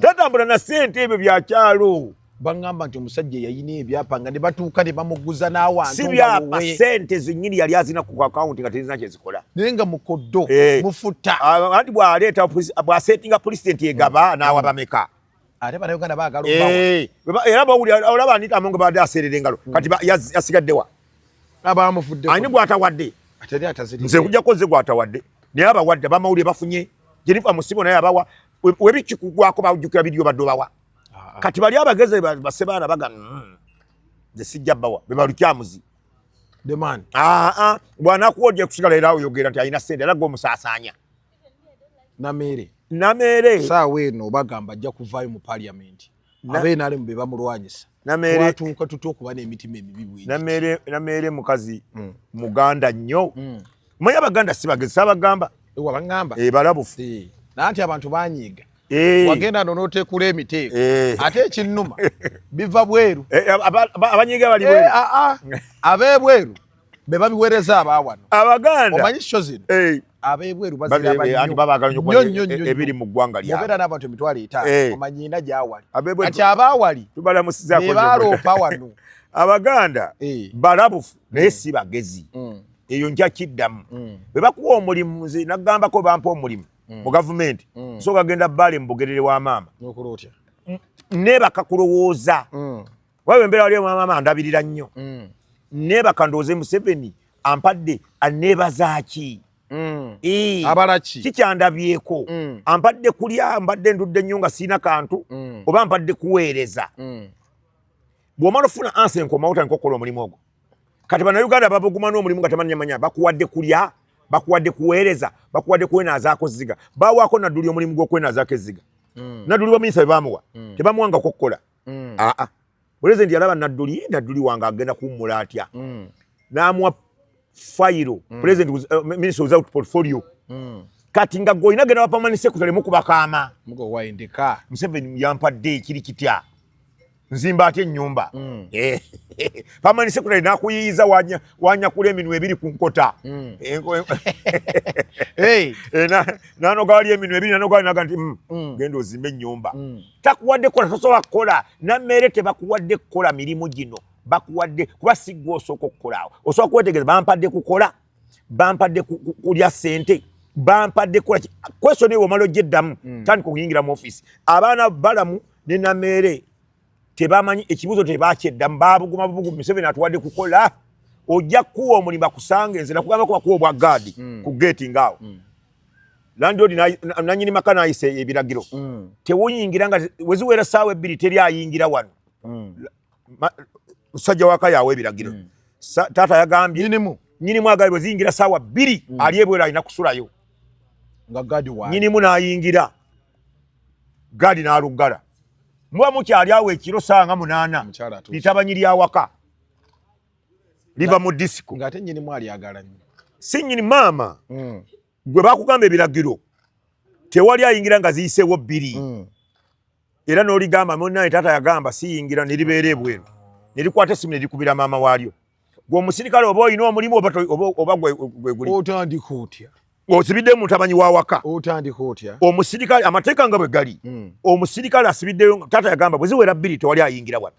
tatambula na sente ebyo byakyalo baŋamba nti omusajja yayina ebyapa nga ne batuuka ne bamuguza n'awantu si byapa sente zenyini yali azina ku akawunti nga tezina kyezikola naye nga mukoddo eh. mufuta anti bwaleeta bwasetinga pulezidenti egaba mm. n'awa mm. bameka ate banauganda bagala eh. era bawulira olaba anita amongo baade aseerera engalo mm. kati yasigaddewa abamufudde ani gwatawadde atali ataziri nze kujja koze gwatawadde naye abawadde abamawulire bafunye jenifa musibo naye abawa webikikugwako bajukira bidiyo badde obawa ah, ah. kati bali abageze base baana baga mm, nze sijja bawa bebalukyamuzi ah, bwanakuwa ojja kusigala era oyogera nti alina sente era gwomusasanya nameere nameere saawa eno bagamba ajja kuvaayo mu paliamenti abenalemu be bamulwanyisa twatuuka tutya okuba n'emitima emibi bwinnameere mukazi hmm. muganda nnyo hmm. manya abaganda si bagezi sabagamba wabagamba eh, balabufu eh, naye nti abantu banyiiga eh. wagenda no notekula emiteeko ate ekinnuma biva bweru abanyiiga bali bweru ah, ah. abebweru be babiwereza abawano abaganda omanyi kyo zino eh. abebweru baziraebiri mu ggwanga lyabeera n'abantu emitwalo etaano eh. omanyina gyawali kati abawali bebaaloopa wano abaganda eh. balabufu naye mm. si bagezi mm. eyo nja kiddamu mm. bwe bakuwa omulimu nze nagambako bampa omulimu mu gavumenti nsooka genda baale mu bugerere wa maama nebakakulowooza waba embeera waliyo mwamama andabirira nnyo mm. nebaka ndowooze museveni ampadde anebazaaki mm. abalaki kikyandabyeko mm. ampadde kulya mbadde ndudde nnyo nga siina kantu mm. oba mpadde kuweereza mm. bwomala ofuna ansa enkomawo tandika okukola omulimu ogwo kati banauganda babuguma n'omulimu nga temanyamanya bakuwadde kulya bakuwadde kuweereza bakuwadde kwenazaako ziga bawaako nadduli omulimu gw'okwenazaako eziga mm. nadduli baminisa bebamuwa mm. tebamuwangako okukola mm. mm. aa ah, ah. pulezidenti yalaba nadduli nadduli wange agenda kuwummula atya mm. n'amuwa fayiro mm. pulezidenti eh, minisita without portfolio mm. kati nga gwe olina genda bapamani sekuta lemu kubakaama museveni yampadde ekiri kitya nzimba atya ennyumba mm. eh, pamani sekuta nakuyiyiza wanyakula eminwe ebiri ku nkota mm. eh, eh, nanoga wali eminwe ebiri nanoga naga nti mm, genda ozimba ennyumba takuwadde kukola tosobola kukola nammeere tebakuwadde kukola mirimu gino bakuwadde kuba siggwa osooka okukolaawo osobola kwetegereza bampadde kukola bampadde kulya ssente bampadde kukola question eyo omala ojja eddamu hmm. tandika okuyingira mu offiisi abaana balamu ne nameere tebamanyi ekibuuzo tebakyeddamu babuguma bubugu museveni atuwadde kukola ojja kukuwa omulimu akusanga enze nakugamba kubakuwa obwa gaadi hmm. ku geeti ngaawo hmm. landlord nanyini maka nayise ebiragiro mm. tewuyingira nga weziwera saawa ebbiri teri ayingira wano mm. musajja waka yawe ebiragiro mm. taata yagambye nyinimu nyinimu agali weziyingira saawa bbiri mm. ali ebwera alina kusulayo nga gadi wa nyinimu nayingira gadi naluggala muba mukyali awo ekiro saawa nga munaana litabanyiri awaka liva mu disiko ng'ate nyini mwali agala nyo si nyini maama mm. gwe bakugamba ebiragiro tewali ayingira nga ziyiseewo bbiri mm. era n'oligamba munaye taata yagamba siyingira neribeera ebweru nerikwata esimu nerikubira maama waalyo gwe omusirikale oba olina omulimu oba gwe guli otandika otya osibidde mutamanyi wawaka otandika otya omusirikale amateeka nga bwe gali hmm. omusirikale asibiddeyo taata yagamba bwe ziwera bbiri tewali ayingira wano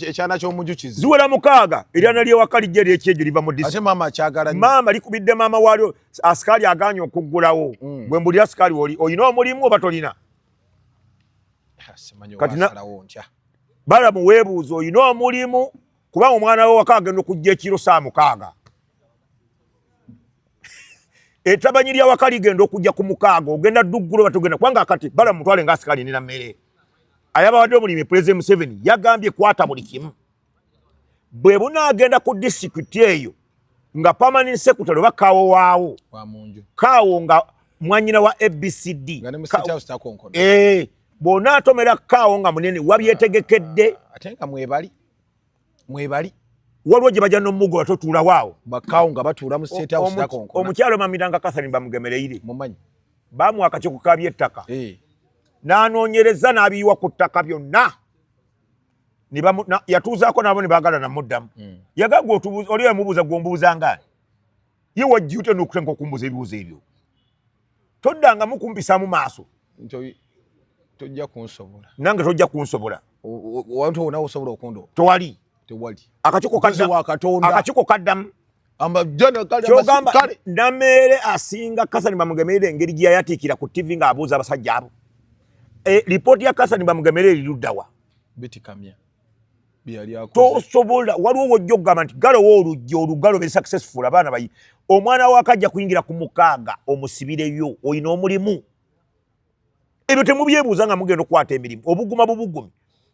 ekyana kyomujukizi ziwera mukaaga eryana lyewaka lijja eryekyejo liva mu maama likubidde maama waalyo asikaali aganye okuggulawo hmm. bwe mbulira asikaali oli olina omulimu oba tolina balamu weebuuza olina omulimu kubanga omwana wewaka agenda okujja ekiro saa mukaaga etabanyi lya waka ligenda okujja ku mukaaga ogenda dduggula oba togenda kubanga akati bala mutwale nga asikaali nina mmere ayababadde omulimi pulezidenti museveni yagambye kwata buli kimu bwe bunaagenda ku disitulikiti eyo nga pamanin sekutale oba kaawo waawo kaawo nga mwanyina wa abcd eh, bwona atomera kaawo nga munene wabyetegekedde mwebali waliwo gye bajja nomugoba totuulawo awo bakawo nga batuula mu state house nakonkona omukyalo mamiranga kathari bamugemereire mumanyi bamuwa akakiiko ka byettaka eh. n'anoonyereza n'abiyiwa ku ttaka byonna yatuuzaako nabo ne baagala namuddamu hmm. yagagwa oli emubuuza gwombuuza ngaani ye wajjute nokutenka okumbuuza ebibuuzo ebyo toddangamu kumpisaamu maaso tojja kunsobola nange tojja kunsobola wantu wona osobola okundoba tewali tewali akakiko kaddamu akakiko kaddamu kyogamba nameere asinga kasani bamugemerera engeri gye yayatiikira ku tivi ng'abuuza abasajja abo eh, lipooti ya kasani bamugemerera eriruddawa bitikamya tosobola waliwo wojja okugamba nti galowo oluggi olugalo be successful abaana bayi omwana wako ajja kuyingira ku mukaaga omusibireyo olina omulimu ebyo temubyebuuza nga mugenda okukwata emirimu obuguma bubugumi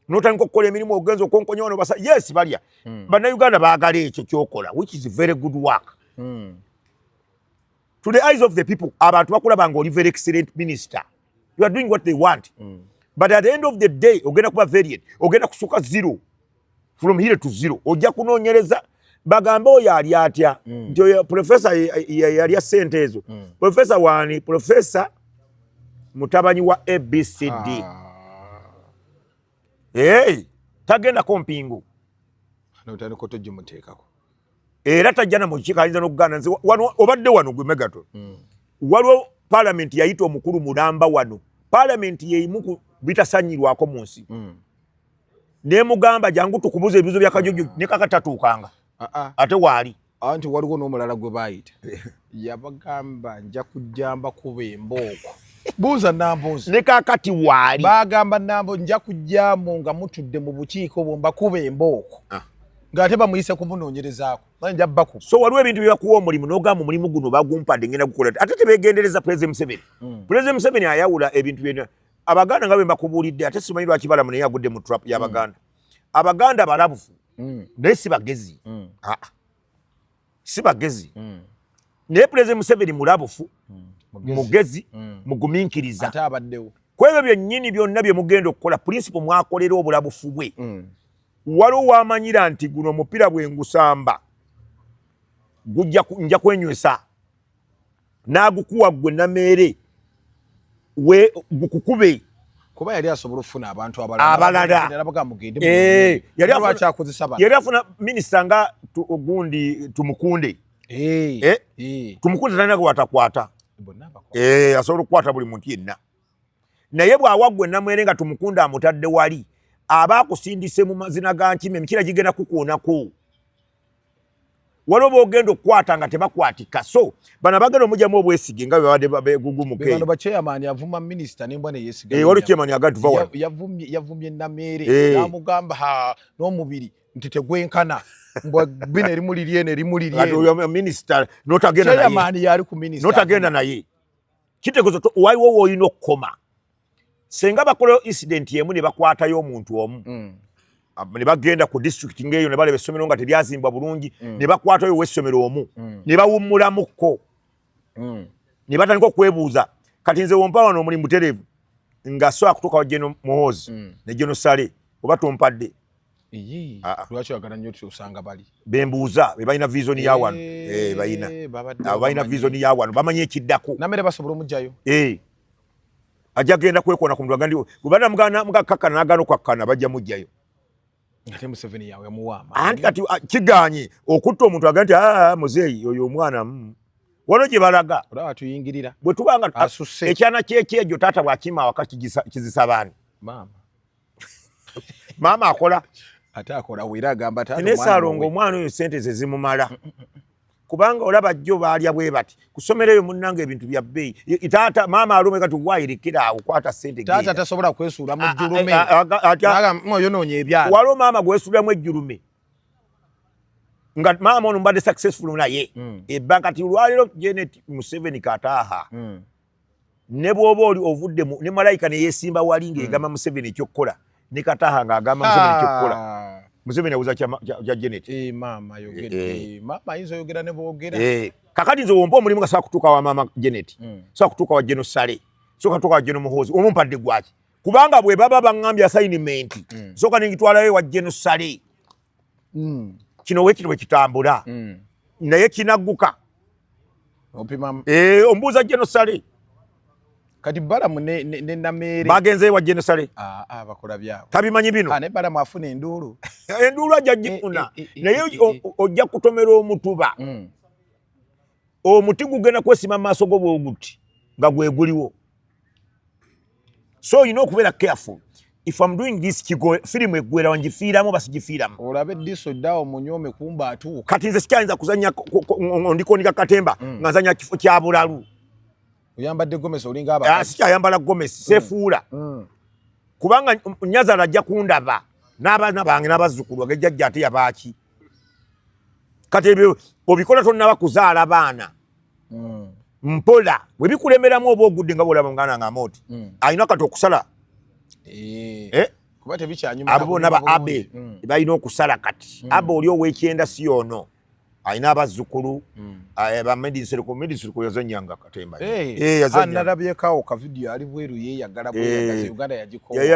notandika okukola emirimu ogenza okonkonya wano basa yes balya hmm. bannayuganda baagala ekyo kyokola which is very good work hmm. to the eyes of the people abantu bakulaba nga oli very excellent minister you are doing what they want mm. but at the end of the day ogenda kuba variant ogenda kusuka zero from here to zero ojja kunonyereza bagambe oyo ali atya mm. nti oyo profesa yalya sente ezo mm. profesa wani profesa mutabanyi wa abcd ah. hey, tagenda ko mpingu notandika otogimuteekako era tajja na mukiiko ayinza n'okugaana nze wano obadde wano gwe megaton hmm. waliwo palamenti yayita omukulu mulamba wano palamenti yeimu ku bitasanyirwako mu nsi hmm. nemugamba jangu tukubuza ebibuzo byakajojo nekakatatuukanga ah, ah. ate waali anti waliwo n'omulala gwe baayita yabagamba nja kujja mbakuba embooko buuza nambuuzi ne kakati waali bagamba nambo nja kujjamu nga mutudde mu bukiiko obwo mbakuba embooko ah. ng'ate bamuyise kumunoonyerezaako nja baku so waliwo ebintu byebakuwa omulimu n'ogamba omulimu guno bagumpadde ngenda gukola ate tebegendereza pulezida museveni hmm. pulezida museveni ayawula ebintu byena abaganda nga bwe mbakubuulidde ate simanyi lwaki balamu naye agudde mu trap y'abaganda hmm. abaganda balabufu hmm. naye si bagezi aa ah. si bagezi mm. naye pulezida museveni mulabufu mm. mugezi mm. muguminkiriza ate abaddewo kwebyo byennyini byonna bye mugenda okukola pulinsipo mwakolera obulabufu bwe mm. waliwo wamanyira nti guno omupiira bwe ngusamba nja kwenywesa n'agukuwa ggwe nameere we gukukube kuba yali asobola okufuna abantu abalalaayali eh, afuna minisita nga gundi tumukunde eh, eh, tumukunde talina gwatakwata asobola okukwata buli muntu yenna naye bw'awa ggwe namwere nga tumukunde amutadde wali aba akusindise mu mazina ga nkima emikira gigenda kukuonako waliwo bogenda okukwata nga tebakwatika so bano abagenda omujamu obwesige nga bebabadde begugumukeewaliwo chairman agatuvayavumbye nameere eh. namugamba n'omubiri nti tegwenkana bino erimu liryeno erimu liryenotagenda naye kitegezo waliwo woolina okukoma senga bakolayo incident yemu ne bakwatayo omuntu omu mm. Ah, ne bagenda ku district ngeeyo ne baleba essomero nga teryazimbwa bulungi mm. ne bakwatayo owessomero omu mm. ne bawummulamukko mm. ne batandika okwebuuza kati nze wompa wano omuli mutereevu nga so akutuuka wa geno muhoozi mm. ne geno sale oba tompadde ah, ah. lwaki oyagala nnyo osanga bali bembuuza be balina vision ya wano eh, eh, balina abo balina vision ya wano bamanyi ekiddako namere basobola omugjayo eh. ajja genda kwekona ku mutwe gandiwo kubana mugana mugakakana nagano kwakana bajja mujjayo ate museveni yawe yamuwamba anti kati ah, kiganye okutta omuntu aga nti ah, muzeeyi oyo omwana mm. wano gye balaga olaba tuyingirira bwe tubanga ah, ekyana kyekyejo taata bwakima awaka kizisa baani maama maama akola ate akola wera agamba naye salonga omwana oyo sente ze zimumala mm, mm, mm, kubanga olaba jjo baalya bwe bati kusomera eyo munnanga ebintu bya bbeeyi taata maama alume kati wayirekera awo kwata sente taata tasobola kwesuula mu jjulume oyonoonya ebyalo waliwo maama gwesuulamu ejjulume nga maama ono mbadde successful naye ebba kati olwaliro genet museveni kataaha ne bwoba oli ovudde mu ne malayika ne yeesimba wali hmm. ng'egamba museveni ekyokukola ne kataha ng'agamba museveni ekyokukola ah. museveni abuza kya genet eh, eh, eh. kakati nze wompa omulimu nga saa kutuuka wa maama genet hmm. saa kutuuka wa geno sale soka tuuka wa geno muhoozi omumpadde gwaki kubanga bwe baba baŋambye assignment hmm. soka nengitwalayo wa geno sale mm. kino wekiri wekitambula mm. naye kinagguka eh, ombuuza genosale kati balamu nenameere bagenzeyo wa genosale ah, ah, bakola byabo tabimanyi bino ah, naye balamu afuna enduulu enduulu ajja eh, gifuna eh, naye ojja kutomera omutuba mm. omuti gugenda kwesima mu maaso go bwoguti nga gweguliwo so olina okubeera careful if am doing this kigo firimu eggwera wangifiiramu oba sigifiiramu olabe diso ddawo munyome kumba atuuka kati nze sikyayinza kuzanya ndikonika katemba mm. nga nzanya kifo kya bulalu oyambadde gomesi olinga aba ah, sikyayambala gomesi mm. sefuula mm. kubanga nyazala ajja kundaba n'abaana bange n'abazzukulu age jjajja ate yabaaki kati ebyo obikola tonnaba kuzaala baana mm. mpola webikulemeramu oba ogudde nga bwolaba muganda nga amooti mm. alina kati okusala eh. Eh? abo bona ba abe mm. balina okusala kati mm. abe oli owekyenda si ono alina abazzukulu mm. eh, bamedisirkumedisirkuyazanyanga katembayali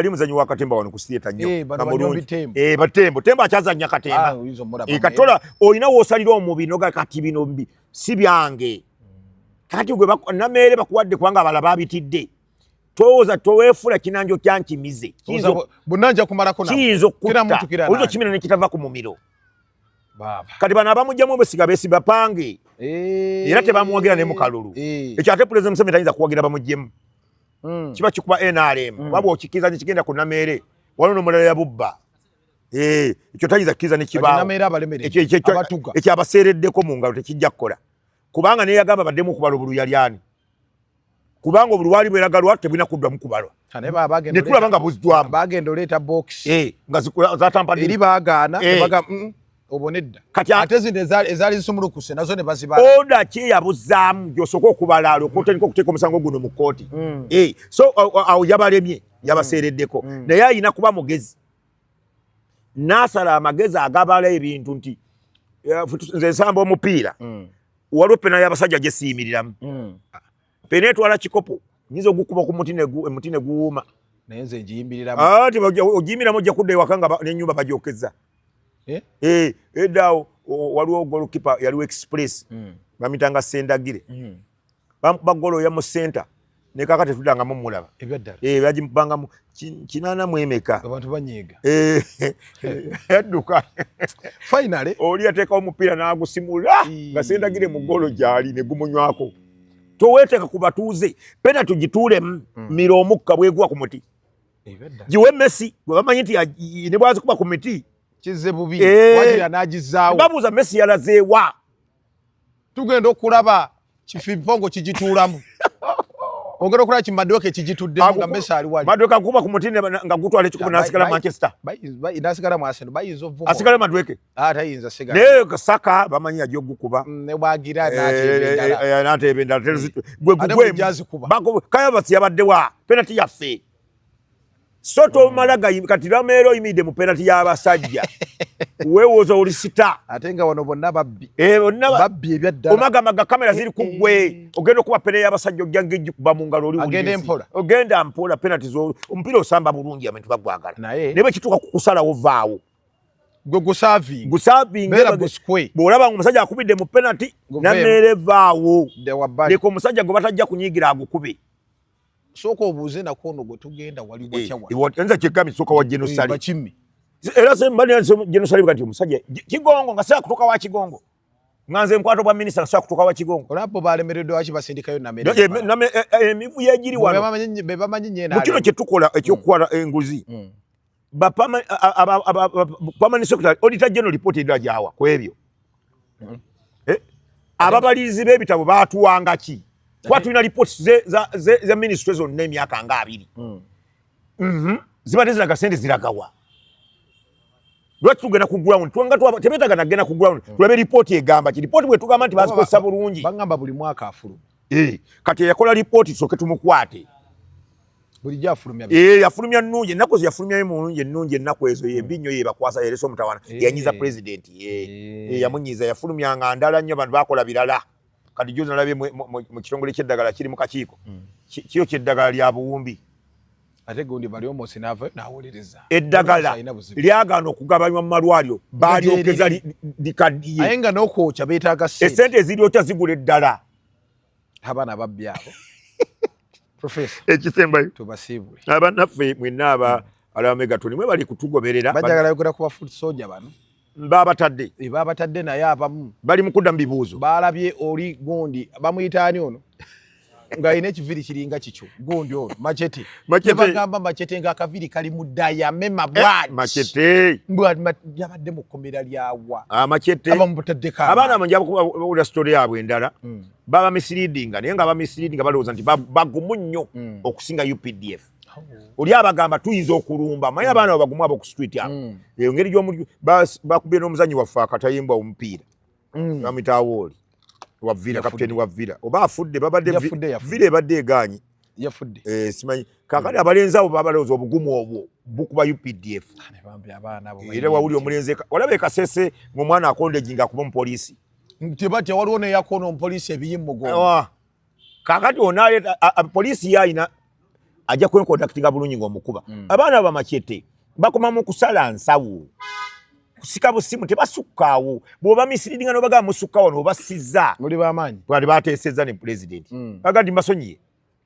muzanyi wa katemba wano ku sieta nyobatembo tembo akyazanya katemba ah, katola olina wosalira omubiri noga kati bino si byange kati gwe nameere bakuwadde kubanga abala babitidde tooza toweefula kinanjo kyankimize kiyinza okukutta oyinza okimira nekitava ku mumiro kati bano abamugjamu obesiga besibapange eh. era tebamuwagira ne mukalulu eh. ekyo ate pulezidenti museveni tayinza kuwagira bamugjemu hmm. kiba kikuba nrm hmm. waba okikiriza nekigenda ku nameere waliwo nomulala yabubba Eh, ekyo tayinza kukiriza nekibaawoekyo abaseereddeko mu ngalo tekijja kukola kubanga neyagamba baddemu okubala obulu yali ani kubanga obulu waali bweragalwa tebulina kuddwamu kubalwa netulaba nga buzdwamu eh, nga zatamperi bagaana eh. mm, obonedda kati ate zino ezaali zisumulukuse nazo ne bazibala oda ki eyabuzaamu gyosooka okubala alokotandika okuteeka omusango guno mu kkooti mm. so awo yabalemye yabaseereddeko mm. naye alina kuba mugezi nasala amagezi agabala ebintu nti eh, nze nsamba omupiira mm. waliwo pena yabasajja gyesiyimiriramu mm. pena etwala kikopo nyinza ogukuba ku muti emuti neguwuuma naye nze ngiyimbiriramu ah, ti ogiyimbiramu ojja kudda ewaka nga nenyumba bagyokeza eh? eh, eddaawo waliwo golkipa yaliwo express mm. bamitanga sendagire bamukuba golo oya mu center ne kaka tetudanga mu mulaba ebyaddala eh baji banga mu kinana mu emeka abantu banyega eh yaduka finally oli ateka omupira na agusimula nga senda gire mu golo jali ne gumunywako to weteka ku batuze pena tujitule mm. miro omukka bwegwa ku muti ebyaddala jiwe messi gwe bamanyi nti ne bwazi kuba ku miti kize bubi eh. wajira najizawo babuza messi yalazewa tugenda okulaba kifimpongo kigituulamu ogera okulaba ki maduka ekigituddemu nga mesa ali wali maduka kuba ku mutini nga gutwala ekikubo nasigala manchester nasigala mu arsenal bayinza ovuba asigala maduka ah, tayinza sigala naye kasaka bamanyi yajja okukuba mm, ne bwagira n'ateeba endala gwe gugwemu kayavasi yabadde wa penati yaffe so tomala kati lameera oyimidde mu penati y'abasajja wewoza oli sita ate nga wano bonna babbi eh, babbi ebyaddala omagamaga kamera ziri ku gwe eh, eh. ogenda okuba pene y'abasajja ojja ngejji kuba mu ngalo oli ogende mpola ogenda mpola penati zo omupiira osamba bulungi abantu bagwagala naye bwe kituuka ku kusalawo vaawo gwe gusaving gusaving bera buskwe bolaba omusajja akubidde mu penati nameere vaawo leka omusajja gwe batajja kunyigira agukube sooka obuuze nako ono gwe tugenda wali eh, wakyawayinza kyekami sooka wa genosali bakimmi era genosali kati omusajja kigongo nga saa kutuuka wa kigongo nga nze nkwata obwa minisita nga saa kutuuka wa kigongo olabo balemereddwa waki basindikayo emivuyo egiri wano mu kino kye tukola ekyokukwala mm. enguzi mm. ba permanent permanent secretary auditor general report edira jawa kwebyo mm. eh ababalizi be bitabo batuwanga ki kwa tulina reports ze za ze, ze ministries on name yaka nga abiri mm. mhm mm ziba tezira kasende ziragawa lwaki tugenda ku ground twanga twaba tebetaga na gena ku ground mm. tulabe report egamba ki report bwe tugamba nti bazi ko sabulungi bangamba buli mwaka afulu eh kati yakola report soke tumukwate bulijjo afulumya ee eh, yafulumya nnungi ennaku ezo yafulumyayo mu nungi ennungi ennaku ezo yembi nnyo yebakwasa yeresa omutawana eh. yanyiza pulezidenti ye eh. yamunyiza yafulumya nga ndala nnyo abantu bakola birala kati jozi nalabye mu kitongole kyeddagala kiri mu kakiiko hmm. kiyo kyeddagala lya buwumbi ate gundi bali omosi nava nawuliriza eddagala lyagaana okugabanywa mu malwaliro balyokeza likaddiye aye nga nokwokya betaaga sente esente eziryokya zigula eddala abana babbi abo professor ekisembayo tubasiibule abanaffe mwenna aba hmm. alaba megatoni mwe bali kutugoberera bajagala yogera kuba foot soldier bano babatadde eh, babatadde naye abamu bali mukudda mu bibuuzo balabye oli gundi bamuyita ani ono nga alina ekiviri kiringa kikyo gundi ono macete bagamba macete nga akaviri kali mu dayame mabwayabadde eh, mu kkomera lyawa ah, abaana banjaula sitole yabwe endala hmm. baba misleadinga naye nga bamisleadinga balowooza nti bagumu nnyo hmm. okusinga updf oh. oli abagamba tuyinza okulumba maye hmm. abaana babagumu abo ku street abo eyo ngeri gyomuli bakubye n'omuzanyi waffe akatayimbwa omupiira amitawooli wa Villa captain wa Villa oba afudde babadde Villa ebadde egaanyi yafudde eh simanyi kakati abalenzi abo babalowooza obugumu obwo bukuba UPDF era wawuli omulenzi olaba ekasese ng'omwana akondejinga kuba omupoliisi nti batya waliwo neyakoona omupoliisi ebiyimugo kakati onaleta poliisi yalina ajja kwenkontaktinga bulungi ngaomukuba mm. abaana bamacete bakoma mu kusala nsawo kusika busimu tebasukkaawo bwoba misiriringa nobagaba musukka wano obasiza muli bamaanyi bali bateeseza ne pulezidenti mm. baga nti mbasonyiye